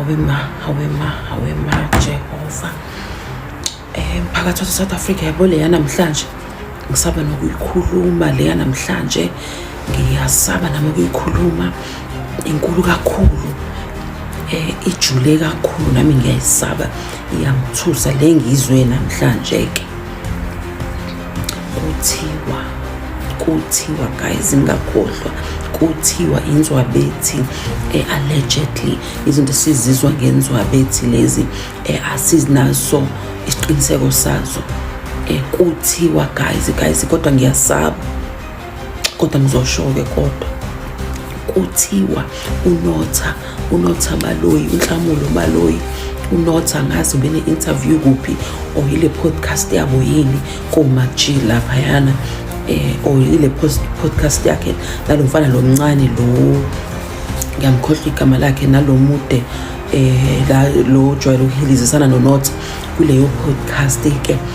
hawe ma hawe ma hawe ma jehova um phakathi wase-south africa yabo leya namhlanje ngisaba nokuyikhuluma leya namhlanje ngiyasaba nami ukuyikhuluma inkulu kakhulu um ijule kakhulu nami ngiyayisaba iyangithusa le ngizwe namhlanje-ke kuthiwa kuthiwa guys ngingakhohlwa kuthiwa inzwabethi eh, allegedly izinto sizizwa ngenzwabethi lezi eh, asinaso isiqiniseko sazo eh, kuthiwa guys guys kodwa ngiyasaba kodwa ngizosho-ke kodwa kuthiwa unotha unotha baloyi unhlamulo baloyi unotha ngazi ubene-interview kuphi or yile podcast yabo yini komaji laphayana eh or yile podcast yakhe nalo mfana lo mncane lo ngiyamkhohlwa igama lakhe nalo mude eh la lo jwayele ukuhilizisana nonotha kuleyo podcast ke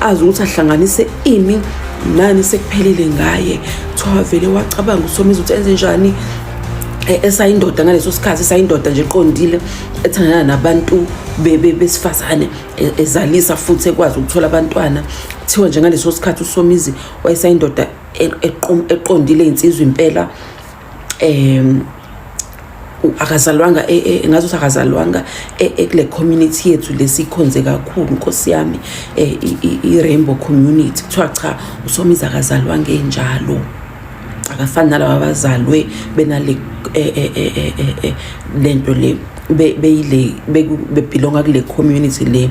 azi ukuthi ahlanganise imi nani sekuphelile ngaye kuthiwa wavele wacabanga usomizi ukuthi enze njani e, esayindoda ngaleso sikhathi esayindoda nje eqondile ethandana nabantu besifazane e, ezalisa futhi ekwazi ukuthola abantwana kuthiwa nje ngaleso sikhathi usomizi wayesayindoda e, eqondile insizwa impela um akazalwanga e, e, ngathi ukuthi akazalwanga e, kule community yethu lesikhonze kakhulu nkosi yami i-rainbow community kuthiwa cha usomizi akazalwanga enjalo akafani nalaba bazalwe benale lento le beyile bebhilonga kule community le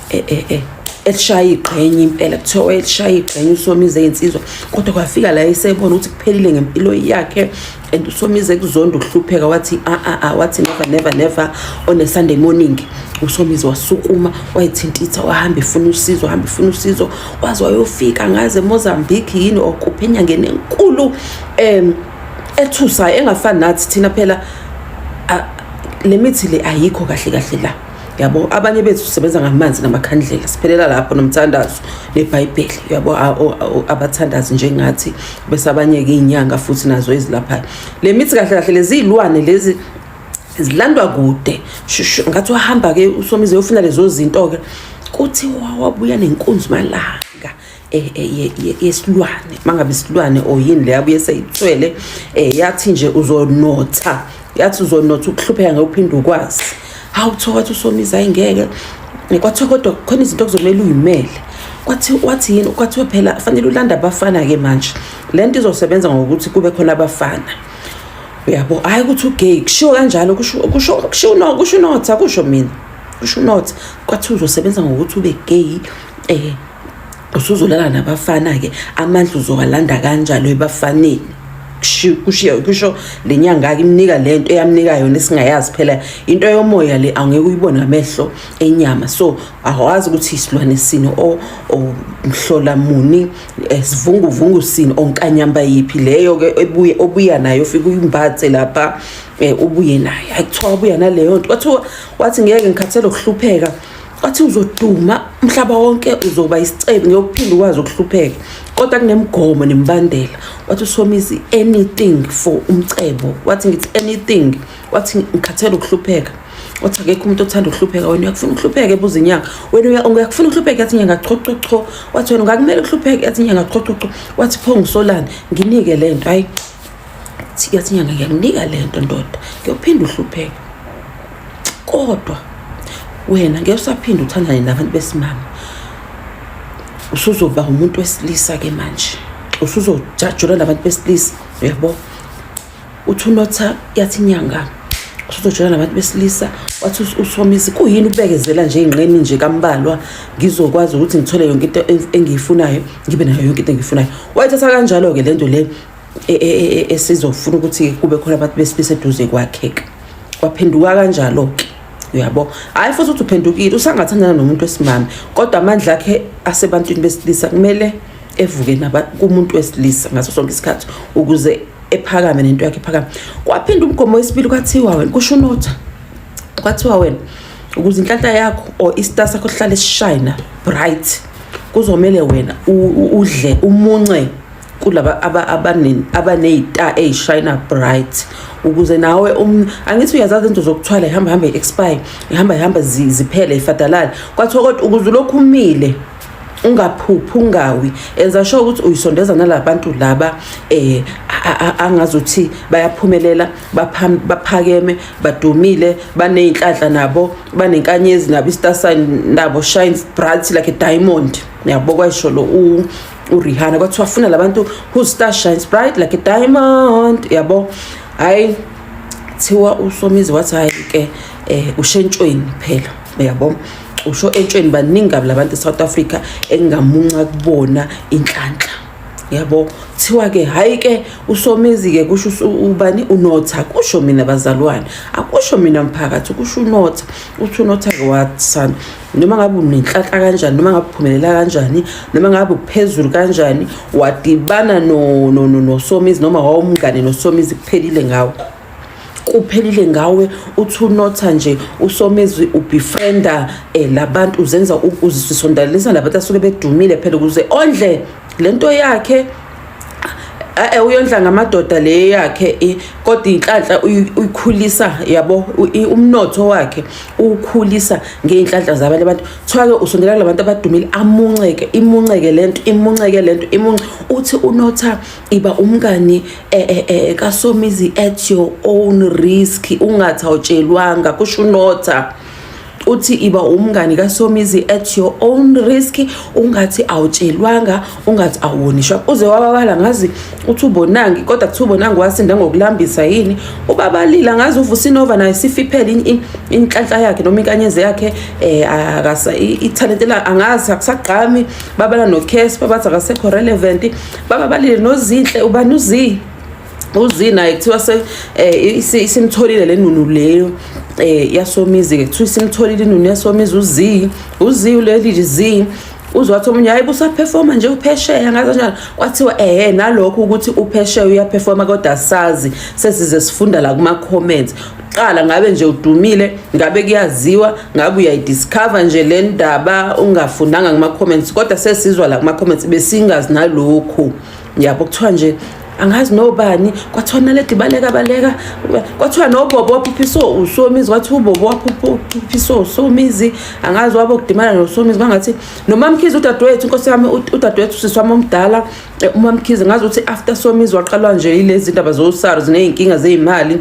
eh eh eh elishaya igqenye impela kuthiwa wayelishaya igqenye usomize ey'nsizwa kodwa kwafika la esebona ukuthi kuphelile ngempilo yakhe and usomize kuzonda ukuhlupheka wathi a ah, a ah, a ah, wathi never never never on a sunday morning usomizi wasukuma wayithintitha wahamba efuna usizo wahamba efuna usizo waze wayofika ngaze emozambique yini or kuphi enyangeni enkulu um ethusayo engafani nathi thina phela le mithi le ayikho kahle kahle la yabo abanye bethu sisebenza ngamanzi namakhandlela siphelela lapho nomthandazo nebhayibheli yabo abathandazi njengathi bese abanye-ke iy'nyanga futhi nazo ezilaphayo le mithi kahle kahle leziyilwane lezi zilandwa kude ngathi wahamba-ke usomize yofuna lezo zinto-ke kuthiwa wabuya nenkunzi malanga Eh, eh, yesilwane mangabe isilwane or yini leyo abuye seyithwele um eh, yathi nje uzonotha yathi uzonotha ukuhlupheka ngeke uphinde ukwazi hawu kuthiwa wathi usomiza ayingeke kwathiwa kodwa khona izinto okuzomele uyimele kwathi wathi yini kwathiwa phela fanele ulanda abafana-ke manje le nto izosebenza ngokuthi kube khona abafana uyabo hhayi ukuthi ugay kushiwo kanjalo kusho unotha kusho mina kusho unotha kwathiwa uzosebenza ngokuthi ube gay um usuzolala nabafana-ke amandla uzowalanda kanjalo ebafaneni kusho le nyanga-ke imnika le nto eyamnika yona esingayazi phela into yomoya le angeke uyibone ngamehlo enyama so awazi ukuthi isilwane sini or mhlola muni eh, sivunguvungu sini onkanyamba yiphi leyo-ke ebuye obuya nayo ufike uyimbathe lapha um ubuye nayo hayi kuthiwa wabuya naleyo nto wathiwa wathi ngeke ngikhathele ukuhlupheka athi uzoduma umhlaba wonke uzoba isicebi ngiyokuphinda ukwazi ukuhlupheka kodwa kunemigomo nemibandela wathi usomisi anything for umcebo wathi ngithi anything wathi ngikhathele ukuhlupheka wathi akekho umuntu othanda ukuhlupheka wena uyakufuna ukuhlupheka ebuza inyanga wena uyakufuna ukuhlupheka yathi inyanga chochocho wathi wena ungakumele ukuhlupheka yathi inyanga chochocho wathi pho ngisolani nginike le nto hayi sikazinyanga ngiyakunika le nto ndoda ngiyophinda uhlupheka kodwa wena ngeke usaphinde uthandane nabantu besimama usuzoba umuntu wesilisa ke manje usuzojajula nabantu besilisa yebo uthi unotha yathi inyanga usuzojula nabantu besilisa wathi usomisi kuyini ukubekezela nje ingqeni nje kambalwa ngizokwazi ukuthi ngithole yonke into engiyifunayo ngibe nayo yonke into engiyifunayo wayithatha kanjalo-ke le nto le e, e, e, esizofuna ukuthi kube khona abantu besilisa eduze kwakhe kwaphenduka kanjalo-ke uyabo hhayi futhi ukuthi uphendukile usangathandana nomuntu wesimame kodwa amandla akhe asebantwini besilisa kumele evuke kumuntu wesilisa ngaso sonke isikhathi ukuze ephakame nento yakhe ephakame kwaphinda umgomo wesibili kwathiwa wena kusho unotha kwathiwa wena ukuze inhlanhla yakho or istar sakho sihlale sishayina bright kuzomele wena udle umunce kulaba abaneyita eyishayina bright ukuze nawe um, angithi uyazazi into zokuthwala ihamba hamba i-expire ihamba ihamba ziphele ifadalale kwathiwa kodwa ukuze ulokhu umile ungaphuphi ungawi enza sho ukuthi uyisondeza nalabantu laba eh angazuthi bayaphumelela baphakeme badumile baneyinhlanhla nabo banenkanyezi nabo istar sign nabo shines bright like a diamond niyabo kwayisho lo urihana kwathiwa afuna labantu whose star shines bright like a diamond yabo hayi thiwa usomizi wathi hayi ke um eh, ushentshweni phela yabo usho entshweni baningi kabi labantu e-south africa engingamunca kubona inhlanhla yabo thiwa ke hayi ke usomizi ke kusho ubani unotha kusho mina bazalwane akusho mina mphakathi kusho unotha uthi unotha ke wathsana noma ngabe unenhlanhla kanjani noma ngabe uphumelela kanjani noma ngabe uphezulu kanjani wadibana nosomizi noma wawumngane nosomizi kuphelile ngawo kuphelile ngawe uthi unotha nje usomezwi ubefrienda eh labantu uzenza uzisondalalisa labantu asuke bedumile phela ukuze ondle lento yakhe eh, eh uyondla ngamadoda le yakhe kodwa inhlanhla uyikhulisa yabo umnotho wakhe ukhulisa ngeinhlanhla zabanye abantu thwake usondela kulabantu abadumile amunceke imunceke lento imunceke lento imunce uthi unotha iba umngani eh, eh, eh, kasomizi at your own risk ungathi awutshelwanga kusho unotha uthi iba umngani kasomizi at your own risk ungathi awutshelwanga ungathi awonishwa uze wababala ngazi uthi ubonangi kodwa kuthi ubonangi wasinda ngokulambisa yini ubabalila ngazi uvusinova naye sifiphele inhlanhla yakhe noma inkanyeze yakhe eh akasa ithalente la angazi akusagqami babala no case babathi akasekho relevant bababalile nozinhle ubani uzi uzi naye kuthiwa se eh, isimtholile le nunu leyo eh yasomizi ke kuthiwa isimtholile inunu yasomizi uzi uzi uleli zi uzwathi omunye hayi busaphefoma nje uphesheya ngazo njalo kwathiwa ehe nalokho ukuthi uphesheya uyaphefoma kodwa sazi sesize sifunda la kuma comments qala ngabe nje udumile ngabe kuyaziwa ngabe uyayidiscover nje le ndaba ungafundanga kuma comments kodwa sesizwa la kuma comments besingazi nalokho yabo kuthiwa nje angazi nobani kwathiwa naledi baleka baleka kwathiwa nobobo waphuphisa usomizi kwathi ubobo waphuphisa usomizi angazi wabo kudimana nosomizi kwangathi nomamkhize udadewethu inkosi yami udadewethu sisi wami omdala eh, umamkhize ngazi ukuthi after somizi waqalwa nje yilezi zindaba zosars ney'nkinga zey'mali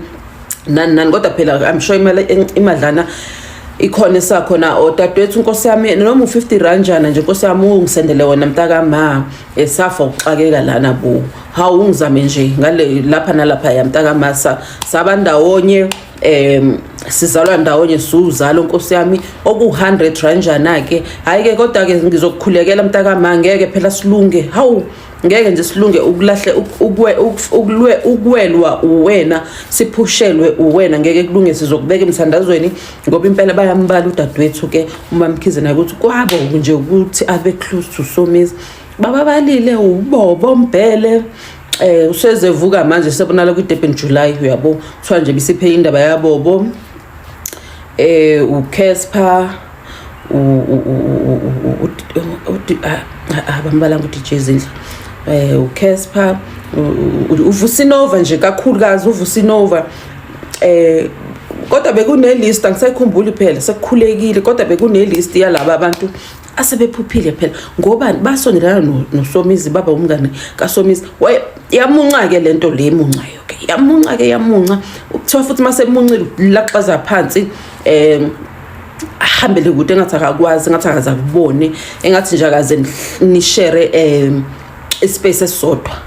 nani nani kodwa phela i'm sure imali imadlana ikhona esakhona odadewethu oh, inkosi yami noma u-50 ranjana nje inkosi yami ungisendele wona mntakama esafa ukuxakeka lana bo hawu ungizame nje ngale lapha nalapha yamtakamasa saba ndawonye um sizalwa ndawonye siwuzalo nkosi yami oku-hundred ranjana-ke hhayi-ke kodwa-ke ngizokukhulekela mntakama ngeke phela silunge hawu ngeke nje silunge ukulahle ukulwe ukwelwa uwena siphushelwe uwena ngeke kulunge sizokubeka emthandazweni ngoba impela bayambala udadewethu ke uma mkhize naye ukuthi kwabo nje ukuthi abe close to somizi bababalile ubobo mbhele eh usezevuka manje sebonala kwi Durban July uyabo kuthiwa nje bisiphe indaba yabobo eh uCasper abambalanga uDJ Zindla eh uCasper uvusinova nje kakhulukazi uvusinova eh kodwa bekunelist angisayikhumbuli phela sekukhulekile kodwa bekunelist yalaba abantu asebephuphile phela ngoba basondelana nosomizi baba umngane kasomizi yamunca-ke le nto le emuncayo ke yamunca-ke yamunca kuthiwa futhi uma semuncile laxaza phansi um ahambele kude engathi akakwazi engathi akaze akubone engathi nje akaze nishere um ispace esisodwa